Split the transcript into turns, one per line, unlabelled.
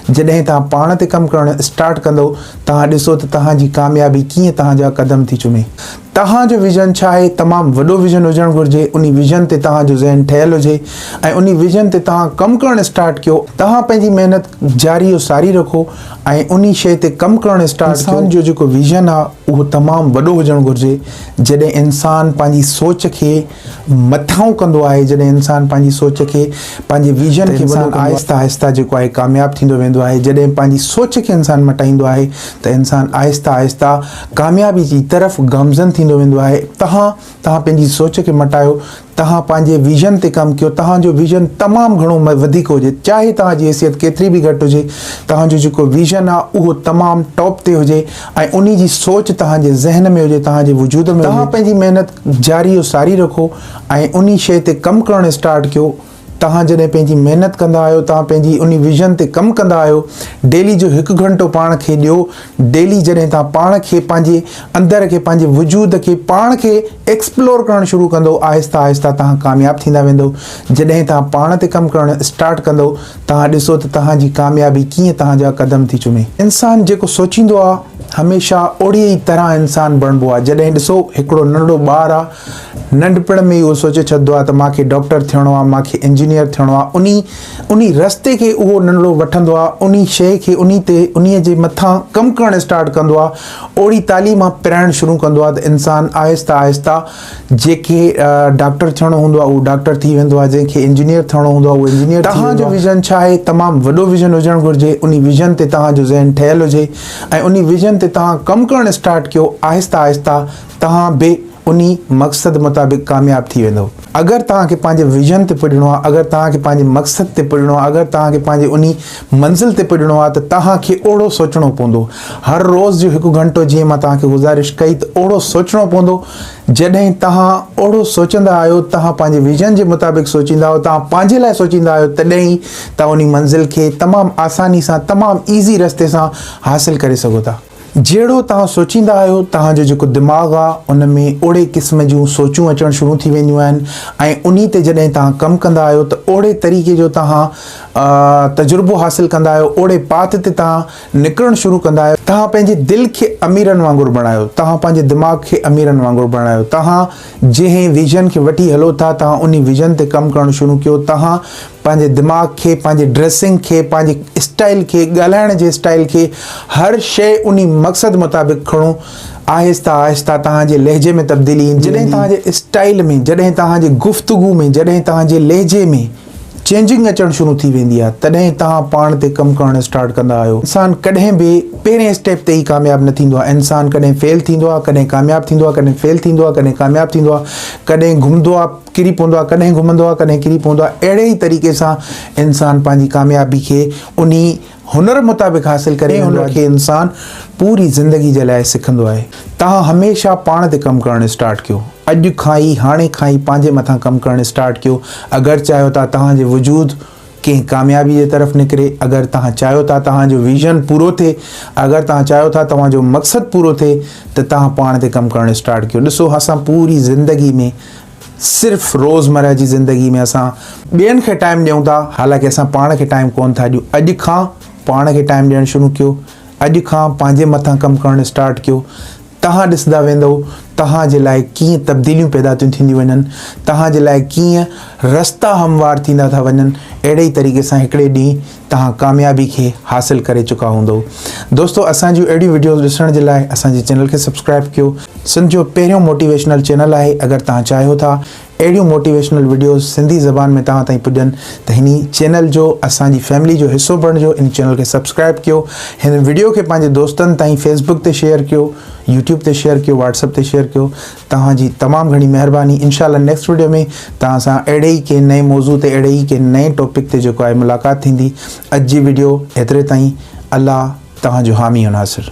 جڏهن توهان پاڻ تي ڪم ڪرڻ اسٽارٽ ڪندؤ، توهان ڏسو ته توهان جي ڪاميابي ڪيئن توهان جا قدم ٿي چمي. توهان جو ويزن ڇا آهي؟ تمام وڏو ويزن هجڻ گهرجي، انهي ويزن تي توهان جو ذهن ٺهيل هجي ۽ انهي ويزن تي توهان ڪم ڪرڻ اسٽارٽ ڪيو. توهان پنهنجي محنت جاري و ساري رکو ۽ انهي شيء تي ڪم ڪرڻ اسٽارٽ ڪيو. انسان جو جيڪو ويزن آهي، اهو تمام وڏو هجڻ گهرجي، جڏهن انسان پنهنجي سوچ کي. مٿانهون ڪندو آهي جڏهن انسان پنهنجي سوچ کي پنهنجي ويزن کي انسان آهستي آهستي جيڪو آهي ڪامياب ٿيندو ويندو آهي جڏهن پنهنجي سوچ کي انسان مٽائيندو آهي ته انسان آهستي آهستي ڪاميابي جي طرف گامزن ٿيندو ويندو آهي تهان تهان پنهنجي سوچ کي مٽايو تهان پنهنجي ويزن تي ڪم ڪيو تهان جو ويزن تمام گهڻو وڌيڪ هجي چاهي تهان جي حيثيت ڪيتري به گهٽ هجي تهان جو جيڪو ويزن آهي اهو تمام ٽاپ تي هجي ۽ انهي جي سوچ توهان جي ذهن ۾ هجي، توهان جي وجود ۾ هجي. توهان پنهنجي محنت جاري و ساري رکو ۽ انهي شيء تي ڪم ڪرڻ اسٽارٽ ڪيو. توهان جڏهن پنهنجي محنت ڪندا آهيو، توهان پنهنجي انهي ويزن تي ڪم ڪندا آهيو. ڊيلي جو هڪ گهنٽو پاڻ کي ڏيو. ڊيلي جڏهن توهان پاڻ کي پنهنجي اندر کي پنهنجي وجود کي پاڻ کي ايڪسپلور ڪرڻ شروع ڪندؤ آهستي آهستي توهان ڪامياب ٿيندا ويندؤ. جڏهن توهان پاڻ تي ڪم ڪرڻ اسٽارٽ ڪندؤ. توهان ڏسو ته توهان جي ڪاميابي ڪيئن توهان جا قدم ٿي چمي. انسان جيڪو سوچيندو آ هميشه اوڙي ئي طرح انسان بڻبو آ. جڏهن ڏسو هڪڙو ننڍڙو ٻار آ ننڍپڻ ۾ ئي اهو سوچي ڇڏدو آ ته مان کي ڊاڪٽر ٿيڻو آ مان کي انجنيئر ٿيڻو آ انهي انهي رستي کي اهو ننڍڙو وٺندو آ انهي شيء کي انهي تي انهي جي مٿان ڪم ڪرڻ اسٽارٽ ڪندو آ اوڙي تعليم پرائڻ شروع ڪندو آ ته انسان آهسته آهسته جيڪي ڊاڪٽر ٿيڻو هوندو آهي اهو ڊاڪٽر ٿي ويندو آهي جنهن کي انجنيئر ٿيڻو هوندو آهي اهو انجنيئر ٿي ويندو آهي. تهان جو ويزن ڇا آهي؟ تمام وڏو ويزن هجڻ گهرجي انهي ويزن تي تهان جو ذهن ٺهيل هجي ۽ انهي ويزن تي تهان ڪم ڪرڻ اسٽارٽ ڪيو آهسته آهسته تهان به انهي مقصد مطابق ڪامياب ٿي ويندؤ. اگر تهان کي پنهنجي ويزن تي پڄڻو آهي اگر تهان کي پنهنجي مقصد تي پڄڻو آهي اگر تهان کي پنهنجي انهي منزل تي پڄڻو آهي ته توهان کي اوهڙو سوچڻو پوندو. هر روز جو هڪ گهنٽو جيئن مان توهان کي گذارش ڪئي ته اوهڙو سوچڻو پوندو. جڏهن توهان اوهڙو سوچندا آهيو، توهان پنهنجي ويزن جي مطابق سوچيندا آهيو، توهان پنهنجي لاء سوچيندا آهيو تڏهن ئي توهان انهي منزل کي تمام آساني سان تمام ايزي رستي سان حاصل ڪري سگهو ٿا. جهڙو توهان سوچيندا آهيو، توهان جو جيڪو دماغ آهي، ان ۾ اوڙي قسم جون سوچون اچڻ شروع ٿي وينديون آهن ۽ انهي تي جڏهن توهان ڪم ڪندا آهيو ته اوڙي طريقي جو توهان تجربو حاصل ڪندا آهيو، اوڙي پاٿ تي توهان نڪرڻ شروع ڪندا آهيو. توهان پنهنجي دل کي اميرن وانگر بڻايو، توهان پنهنجي دماغ کي اميرن وانگر بڻايو، توهان. جنهن ويزن کي وٺي هلو ٿا توهان انهي ويزن تي ڪم ڪرڻ شروع ڪيو توهان پنهنجي دماغ کي پنهنجي ڊريسنگ کي پنهنجي اسٽائل کي ڳالهائڻ جي اسٽائل کي هر شئي انهي مقصد مطابق کڻو آهسته آهسته توهان جي لهجي ۾ تبديلي ايندي جڏهن توهان جي اسٽائل ۾ جڏهن توهان جي گفتگو ۾ جڏهن توهان جي لهجي ۾ چينجنگ اچڻ شروع ٿي ويندي آهي تڏهن توهان پاڻ تي ڪم ڪرڻ اسٽارٽ ڪندا آهيو انسان ڪڏهن به پهرين اسٽيپ تي ئي ڪامياب نه ٿيندو آهي انسان ڪڏهن فيل ٿيندو آهي ڪڏهن ڪامياب ٿيندو آهي ڪڏهن فيل ٿيندو آهي ڪڏهن ڪامياب ٿيندو آهي ڪڏهن گهمندو آهي ڪري پوندو آهي ڪڏهن گهمندو آهي ڪڏهن ڪري پوندو آهي اهڙي ئي طريقي سان انسان پنهنجي ڪاميابي کي انهي هنر مطابق حاصل ڪري ويندو آهي، جيڪي انسان پوري زندگي جي لاء سکندو آهي. توهان هميشه پاڻ تي ڪم ڪرڻ اسٽارٽ ڪيو. اڄ کان ئي، هاڻي کان ئي پنهنجي مٿان ڪم ڪرڻ اسٽارٽ ڪيو. اگر چاهيو ٿا توهان جي وجود ڪنهن ڪاميابي جي طرف نڪري، اگر توهان چاهيو ٿا توهان جو ويزن پورو ٿئي، اگر توهان چاهيو ٿا توهان جو مقصد پورو ٿئي ته توهان پاڻ تي ڪم ڪرڻ اسٽارٽ ڪيو. ڏسو اسان پوري زندگي ۾ صرف روزمره جي زندگي ۾ اسان ٻين کي ٽائيم ڏيون ٿا حالانڪه اسان پاڻ کي ٽائيم ڪون ٿا ڏيون اڄ کان پاڻ کي ٽائيم ڏيڻ شروع ڪيو اڄ کان پنهنجي مٿان ڪم ڪرڻ اسٽارٽ ڪيو تهان ڏسندا ويندو تهان جي لاء ڪيئن تبديليون پيدا ٿيون ٿينديون وڃن تهان جي لاء ڪيئن رستا هموار ٿيندا ٿا وڃن اهڙي ئي طريقي سان هڪڙي ڏينهن توهان ڪاميابي کي حاصل ڪري چڪا هوندؤ دوستو اسان جون اهڙيون وڊيوز ڏسڻ جي لاء اسان جي چينل کي سبسڪرائب ڪيو سنڌ جو پهريون موٽيويشنل چينل آهي اگر توهان چاهيو ٿا اهڙيون موٽيويشنل وڊيوز سنڌي زبان ۾ توهان تائين پڄن ته هن چينل جو اسان جي فيملي جو حصو بڻجو ان چينل کي سبسڪرائب ڪيو هن وڊيو کي پنهنجي دوستن تائين فيسبوڪ تي شيئر ڪيو يوٽيوب تي شيئر ڪيو واٽس اپ تي شيئر ڪيو توهان جي تمام گهڻي مهرباني انشاء الله نيڪسٽ وڊيو ۾ توهان سان اهڙي ئي ڪنهن نئين موضوع تي اهڙي ئي ڪنهن نئين ٽاپڪ تي جيڪو آهي ملاقات ٿيندي اڄ جي وڊيو ايتري تائين الله توهان جو حامي و ناصر.